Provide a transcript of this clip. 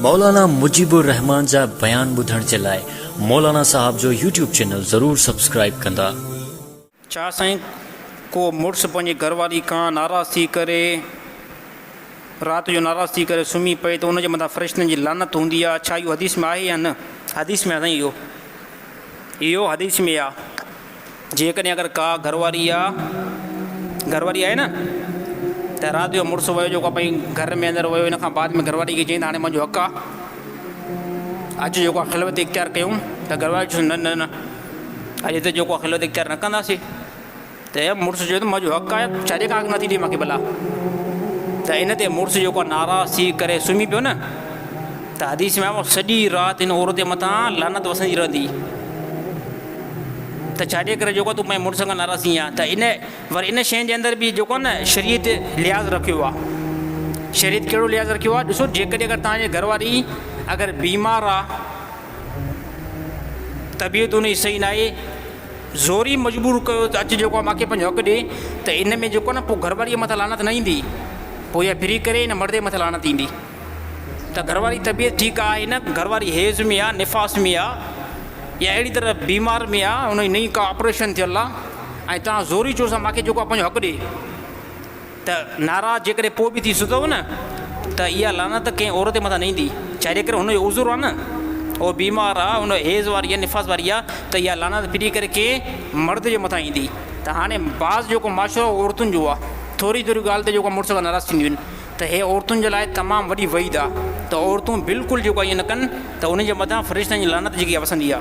مولانا مجيب الرحمان جا بيان ٻڌڻ جي لاء مولانا صاحب جو يوٽيوب چينل ضرور سبسڪرائيب ڪندا. ڇا سائين ڪو مڙس پنهنجي گهر واري کان ناراض ٿي ڪري رات جو ناراض ٿي ڪري سمهي پئي ته ان جي مٿان فرشتن جي لعنت هوندي آهي ڇا اهو حديث ۾ آهي يا نه. حديث ۾ آ سائين اهو اهو حديث ۾ آ. جيڪڏهن اگر ڪا گهرواري يا گهرواري آهي نه ته رات جو مڙس ويو جيڪو پنهنجي گهر ۾ اندر ويو ان کان بعد ۾ گهرواري کي چئي ته هاڻي منهنجو حق آهي اڄ جيڪو آ خلوت اختيار ڪيون ته گهرواري چوس نه نه نه اڄ هتي جيڪو آ خلوت اختيار نه ڪنداسي ته مڙس چيو ته منهنجو حق آهي ڇا جي ڪانڪ نٿي ڏي ماکي بلا ته ان تي مڙس جيڪو آ ناراض ٿي ڪري سمهي پيو نه ته حديث ۾ سڄي رات ان عورت جي مٿان لعنت وسندي رهندي ته ڇاڏي ڪري جيڪو تون پنهنجي مڙس کان ناراض ٿينء ها ته ان ور ان شين جي اندر به جيڪو آهي نه شريعت لحاظ رکيو آهي شريعت ڪهڙو لحاظ رکيو آهي ڏسو جيڪڏهن اگر توهان جي گهرواري اگر بيمار آهي طبيعت ان جي صحيح ناهي زوري مجبور ڪيو ته اچ جيڪو آهي ماکي پنهنجو حق ڏي ته ان ۾ جيڪو آهي نه پوء گهرواري مٿان لعنت نه ايندي پوء اها فري ڪري ان مرد جي مٿان لعنت ايندي ته گهرواري جي طبيعت ٺيڪ آهي نه، گهرواري حيض ۾ آ، نفاس ۾ آ يا اهڙي طرح بيمار ۾ آ، ان جي نئين ڪا آپريشن ٿيل آ ۽ توهان زوري چيو سان ماکي جيڪو آ پنهنجو حق ڏي ته ناراض جيڪڏهن پوء به ٿي سگهو نه ته اها لعنت ڪنهن عورت جي مٿان نه ايندي چاري ڪري هن جو عذر آ نه اهو بيمار آ ان حيض واري آ نفاس واري آ ته اها لعنت ڦري ڪري ڪنهن مرد جي مٿان ايندي ته هاڻي بعض جيڪو معاشرو عورتن جو آ ٿوري ٿوري ڳالهه تي جيڪو مڙس ناراض ٿينديون آهن. ته هيء عورتن جي لاء تمام وڏي وعيد آ ته عورتون بلڪل جيڪو ائين نه ڪن ته انهن جي مٿان فرشتن جي لعنت جيڪي آ وسندي آ.